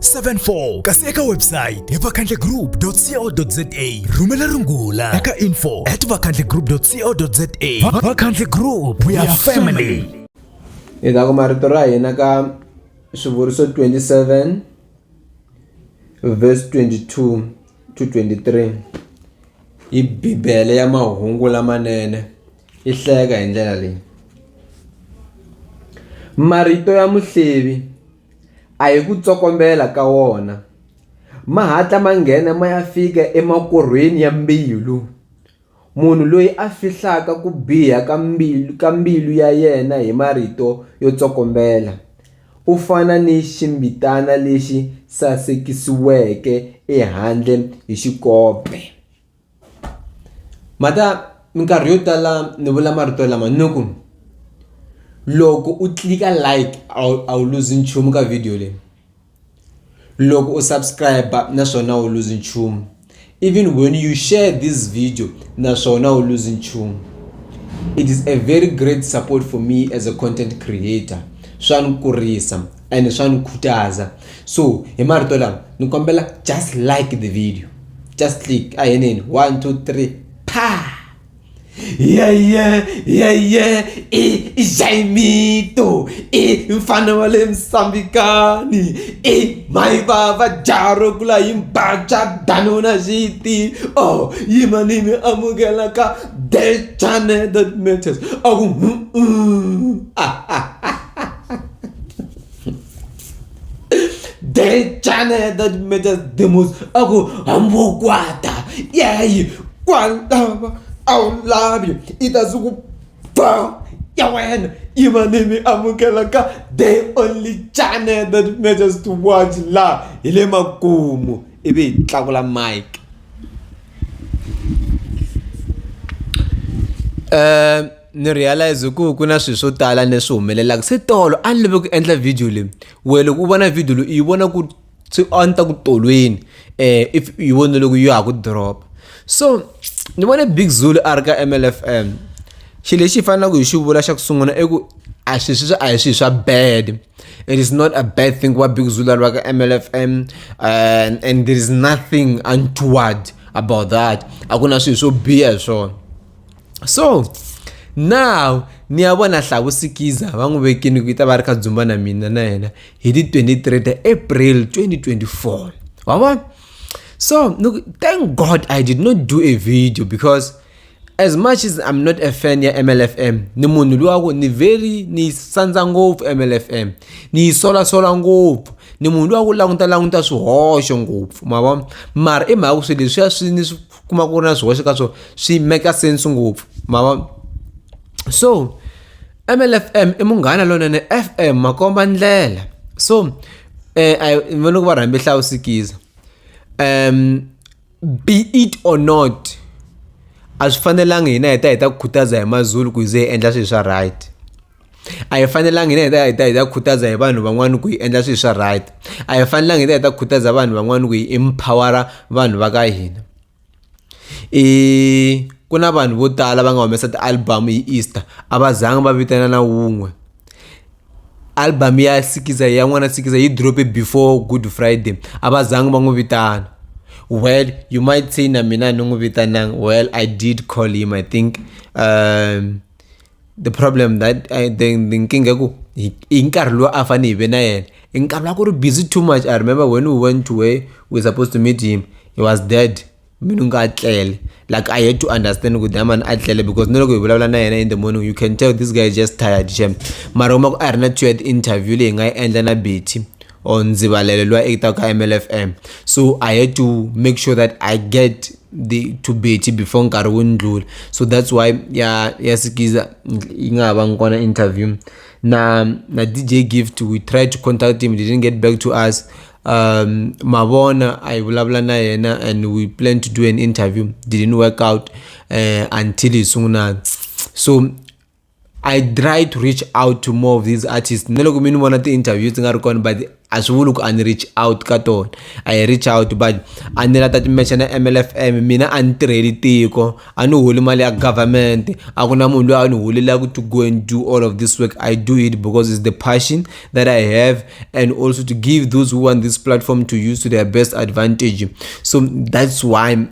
74 kasi eka website hi vakhandlegroup.co.za rhumela rungula eka info at vakhandlegroup.co.za vakhandle group we are family hi ta kuma rito ra hina ka swivuriso 27 verse 22 to 23 hi bibele ya mahungu lamanene yi hlayeka hi ndlela leyi marito ya muhlevi A hi ku tsokombela ka wona, ma hatla ma nghena ma ya fika emakorhweni ya mbilu. Munhu loyi a fihlaka ku biha ka mbilu, ka mbilu ya yena hi marito yo tsokombela, u fana ni ximbitana lexi sasekisiweke ehandle hi xikope. Ma ta minkarhi yo tala ni vula marito lama ni ku loko u tlilika like a wu a wu luzi nchumu ka video leyi loko u subscribe naswona a wu luzi nchumu even when you share this video naswona a wu luzi nchumu it is a very great support for me as a content creator swa ni kurisa and swa ni khutaza so hi marito lama ni kombela just like the video just click a heneni one two three pa yeye yeye i jaimito i mfana wa le msambikani i mai vava jaro kula yi mbacha danona xiti o oh, yima ni mi amukela ka the channel that matters a ku ah, ah, ah. Dejana ya that matters the most aku hambokwata yeyi kwalava a wu lavi i ta suku ba ya wena i va ni mi amukela ka the only channel that matters to watch laha hi le makumu ivi hi tlakula mike um ni realize ku ku na swilo swo tala leswi humelelaka se tolo a ni lave ku endla video leyi we loko u vona video leyi u yi vona ku se a ni ta ku tolweni um if u yi vona loko ya ha ku drop so ni vone big zulu a ri ka mlfm xilo lexi hi fanelaka hi xi vula xa ku sungula i ku a swi swi a hi swilo swa bad it is not a bad thing ku va big zulu a ri va ka mlfm eh, and there is nothing untoward about that a ku na swilo swo biha hi swona so now ni ya vona hlavu sikiza va n'wi vekini ku yi ta va ri ka dzumba na mina na yena hi ti 23 ta april 2024 wa vona so look, thank god i did not do a video because as much as i'm not a fan ya mlfm ni munhu luwa ku ni very ni sandza ngopfu mlfm ni yi solasola ngopfu ni munhu luwa ku languta languta swihoxo ngopfu ma vona mara i mhaka ku swilo leswiya swi ni swi kuma ku ri na swihoxo ka swona swi make sense ngopfu ma va so mlfm i munghana lonene fm makomba ndlela so um va loko va rhambe hlawusikiza um be it or not a swi fanelanga hina hi ta hi ta ku khutaza hi mazulu ku hi ze hi endla swilo swa right a hi fanelanga hina hi ta hi ta hi ta khutaza hi vanhu van'wani ku hi endla swilo swa right a hi fanelanga hi ta hi ta khutaza vanhu van'wani ku hi empowera vanhu va ka hina i ku na vanhu vo tala va nga humesa ti-album hi easter a va zanga va vitana na wun'we album ya sikiza ya n'wana sikiza yi drope before good friday a va zanga va n'wi vitana well you might say na mina ni n'wi vitananga well i did call him i think um the problem that I, the, the nkinga ku hi hi nkarhi lowu a fanele hi ve na yena i nkarhi wa ku ri busy too much i remember when we went to where we supposed to meet him he was dead mina u nga a tlele like i had to understand ku daman a tlele because ni loko hi vulavula na yena in the morning you can tell this guy is just tired shem mara uma ku a ri na two yard interview leyi nga yi endla na betty or Nzibalele lwa ekitaka MLFM. So I had to make sure that I get the to Betty before nkarhi wu ndlula. So that's why ya ya Sikiza yi nga ha va ngona interview. Na na DJ Gift we tried to contact him, he didn't get back to us. Um, Mavona I vulavula na yena and we planned to do an interview, didn't work out uh, until hi sunguna. So i try to reach out to more of these artists na loko mi ni vona ti-interview ti nga ri kona but a swi vuli ku a ni reach out ka tona a hi reach out but a ni la ta timexa na mlfm mina a ni tirheli tiko a ni holi mali ya government a ku na munhu loyi a ni holelaku to go and do all of this work i do it because it's the passion that i have and also to give those who want this platform to use to their best advantage so that's why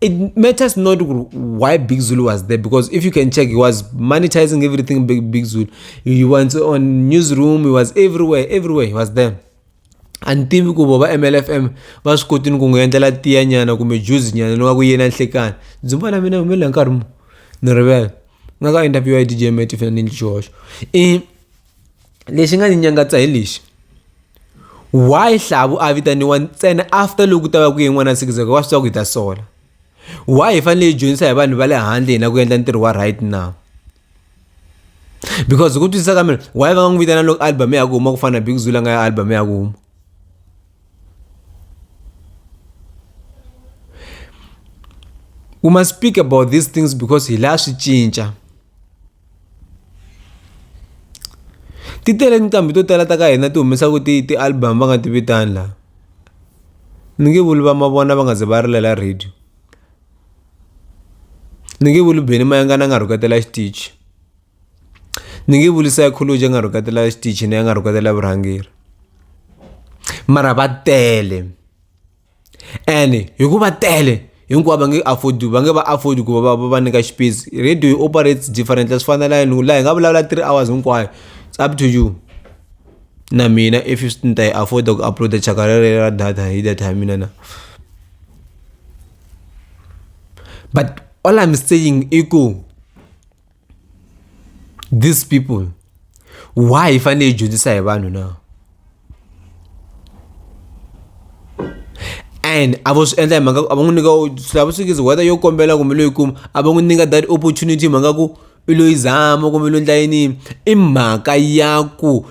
it matters not why Big Zulu was there because if you can check, he was monetizing everything Big, Big Zulu. He was on newsroom, he was everywhere, everywhere, he was there. and tivi ku vo va mlfm va swi kotini ku n'wi endlela tiya nyana kumbe juzi nyana ni wa ku yena nhlekani dzumba la mina humelela nkarhi mu ni rivela nga ka interview ya dj mati fana ni ndli xihoxo i lexi nga ni nyangatsa hi lexi why hlavu a vitaniwa ntsena after loko ta va ku yin'wana sikizeko wa swi tiva ku hi ta sola why hi fanele hi dyondzisa hi vanhu va le handle hina ku endla ntirho wa right now because hi ku twisisa ka mina why va nga n'wi vitana loko album ya ku huma ku fana na big zula nga ya album ya ku huma we must speak about these things because hi la swi cinca Ti tele nqambi to tala ta ka hina ti humesaka ti ti album va nga ti vitani la ni nge vuli va mavona va nga ze va rilela radio ni nge vuli Benny Mayengani a nga rhuketela xitichi ni nge vuli Saichology a nga rhuketela xitichini a nga rhuketela vurhangeri mara va tele. ene hikuva tele hinkwavo va nge afford va nge va afford ku va va va nyika xipesi radio yi operates different a swi fani na laha hi laha hi nga vulavula three hours hinkwayo it's up to you na mina if ni ta yi afford ku upload chaka rero ra data hi data ya mina na but all I'm saying i ku these people why hi fanele hi dyondzisa hi vanhu na and a vo swi endla hi mhaka a va n'wi nyika lava swi ngizi whether yo kombela kumbe loyi kuma a va n'wi nyika that opportunity hi mhaka ku i loyi zama kumbe loyi ndla yini i mhaka ya ku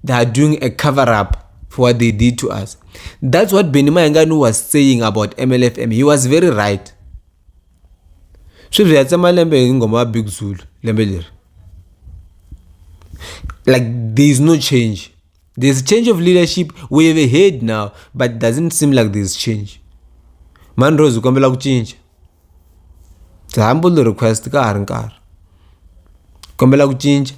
they are doing a cover up for what they did to us that's what benny mayengani was saying about mlfm he was very right sweswi hi ya tsema lembe hi nghoma ya big zulu lembe leri like there is no change there's change of leadership we have heard now but doesn't seem like there's change mani rose hi kombela ku cinca the humble request ka ha ri nkarhi kombela ku cinca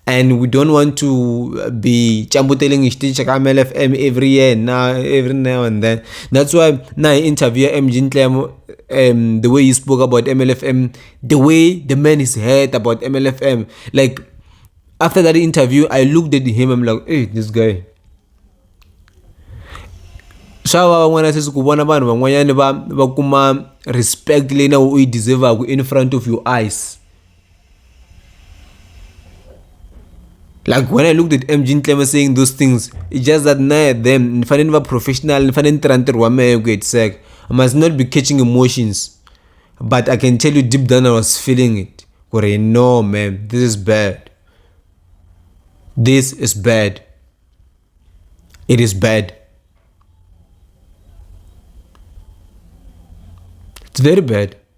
and we don't want to be chambuteling hi xitichi ka mlfm every year na every now and then that's why na hi interview ya mg ntlemo um the way he spoke about mlfm the way the man is heard about mlfm like after that interview i looked at him i'm like hey this guy swa va van'wana sweswi ku vona vanhu van'wanyana va va kuma respect leyi na u yi deservaka in front of your eyes like when i looked at mg ncleve saying those things it's just that naye them nifanele ni va professional nifanele ni tirha ntirho wa mehe ku hetiseka i must not be catching emotions but i can tell you deep down i was feeling it ku ri no man this is bad this is bad it is bad it's very bad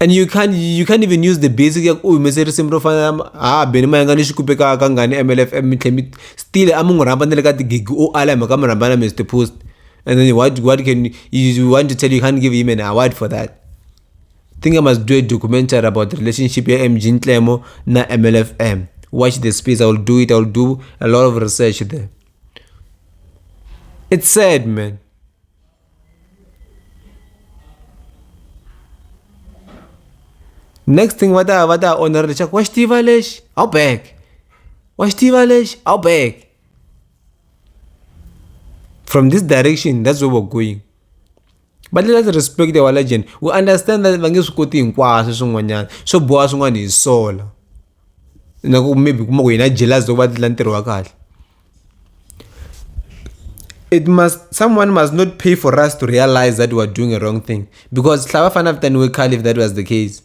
and you can't you can't even use the basic ya ku u humese risimu ro fana ha beni ma yanga ni xikupe ka ka ngani mlfm mi tlhe mi still a mi n'wi rhamba ni le ka tigigi o ala hi mhaka mi rhamba na mr post and then what what can you want to tell you can't give him an award for that think i must do a documentary about the relationship ya mg ntlemo na mlfm watch the space i will do it i will do a lot of research there it's sad man next thing va ta va ta onera leswaku wa xi tiva lexi a wu back wa xi tiva lexi a wu back from this direction that's where we're going but let's respect our legend we understand that va nge swi koti hinkwaswo swin'wanyana swo boha swin'wana hi sola na ku maybe u kuma ku yena i jealous loko va endla ntirho wa kahle it must someone must not pay for us to realise that we're doing a wrong thing because hla va fane va vitaniwe khale if that was the case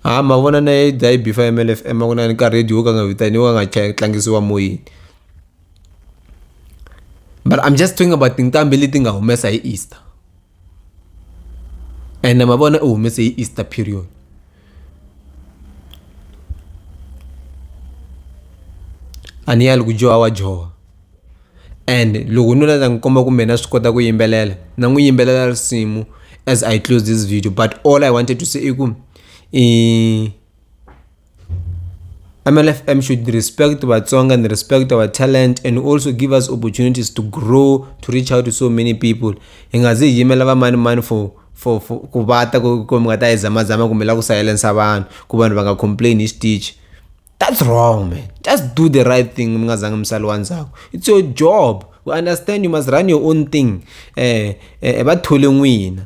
ha ma vona na yi dzayi bifa ya mlfm a ku na ni ka radio wo ka nga vitaniwa ka nga cha- tlangisiwa moyeni but i'm just talking about tinqambi leti nga humesa hi easter ene mavona u humese hi easter period a ni yali ku dyoha wa dyoha and loko nuna ta n'wi komba kumbe na swi kota ku yimbelela na n'wi yimbelela risimu as i close this video but all i wanted to say i ku i MLFM should respect Vatsonga and respect our talent and also give us opportunities to grow to reach out to so many people hi nga zi hi yimela vamani mani for for for ku va ta ku ku mi nga ta yi zamazama kumbe la ku silensa vanhu ku vanhu va nga complain hi xitichi that's wrong man just do the right thing mi nga zangi misali wa ndzhaku it's your job we understand you must run your own thing eh eh va thole n'wina